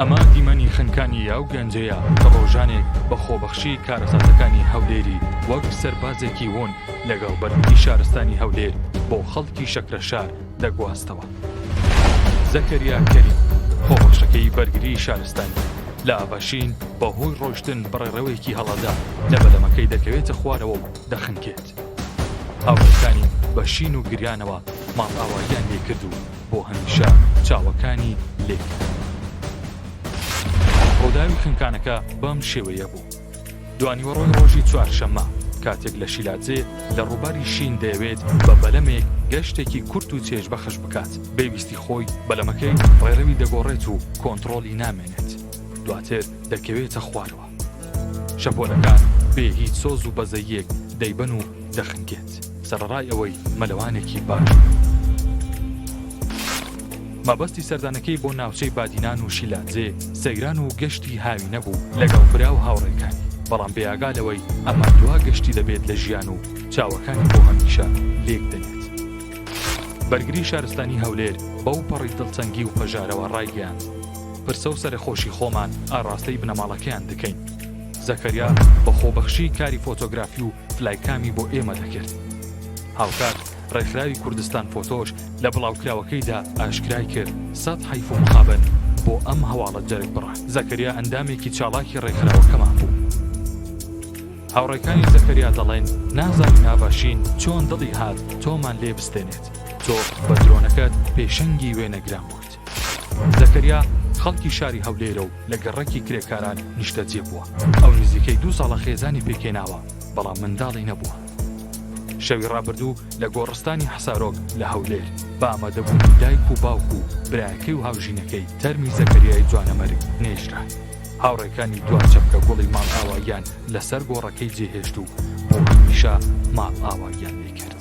ئەمە دیمەنی خنکانی یاو گەنجەیە کە ڕۆژانێک بە خۆبەخشی کارەساتەکانی هەولێری وەک سەربازێکی وون لەگەڵ بەرگی شارستانی هەولێر بۆ خەڵکی شەکرە شار دەگواستەوە زەکەریا کەری خۆبەخشەکەی بەرگری شارستانی لە ئاڤشین بە هۆی ڕۆشتن بەڕێڕەوەیەکی هەڵەدا لە بەلەمەکەی دەکەوێتە خوارەوە و دەخنکێت هاوڵەکانی بە شین و گریانەوە ماڵ ئاواییان لێکرد و بۆ هەمیشە چاوەکانی لێ ڕووداوی خنکانەکە بەم شێوەیە بوو دوانیوەڕۆی ڕۆژی چوارشەممە کاتێک لە شیلادزێ لە ڕووباری شین دەیەوێت بە بەلەمێک گەشتێکی کورت و چێژ بەخش بکات بێویستی خۆی بەلەمەکەی ڕێڕەوی دەگۆڕێت و کۆنتترۆلی نامێنێت دواتر دەکەوێتە خوارەوە شەپۆلەکان بێ هیچ سۆز و بەزەییەک دەیبەن و دەخنکێت، سەرەڕای ئەوەی مەلەوانێکی باش بێت. مەبەستی سەردانەکەی بۆ ناوچەی بادینان و شیلادزێ سەیران و گەشتی هاوینە بوو لەگەڵ برا و هاوڕێکانی، بەڵام بێئاگا لەوەی ئەمە دوا گەشتی دەبێت لە ژیان و چاوەکانی بۆ هەمیشە لێک دەنێت. بەرگری شارستانی هەولێر بەو پەڕی دڵتەنگی و پەژارەوە ڕایگەیاند، پرسە و سەرەخۆشی خۆمان ئاراستەی بنەماڵەکەیان دەکەین. زەکەریا بە خۆبەخشی کاری فۆتۆگرافی و فلایکامی بۆ ئێمە دەکرد. هاوکات ڕێکخراوی کوردستان فۆتۆش لە بڵاوکراوەکەیدا ئاشکرای کرد، سەد حەیف و مخابن بۆ ئەم هەواڵە جەرگ بڕە. زەکەریا ئەندامێکی چاڵاکی ڕێکخراوەکەمان بوو. هاوڕێکانی زەکەریا دەڵێن، نازانین ئاڤاشین چۆن دڵی هات تۆمان لێ بستێنێت، تۆ بە درۆنەکەت پێشەنگی وێنەگران بوویت. زەکەریا خەڵکی شاری هەولێرە و لە گەڕەکی کرێکاران نیشتەجێ بووە، ئەو نزیکەی دوو ساڵە خێزانی پێکهێناوە، بەڵام منداڵی نەبووە. شەوی ڕابردوو لە گۆڕستانی حەسارۆک لە هەولێر، بە ئامادەبوونی دایک و باوک و برایەکەی و هاوژینەکەی تەرمی زەکەریای جوانەمەرگ نێژرا. هاوڕێکانی دوا چەپکە گوڵی ماڵئاواییان لەسەر گۆڕەکەی جێهێشت و بۆ هەمیشە ماڵئاواییان لێکرد.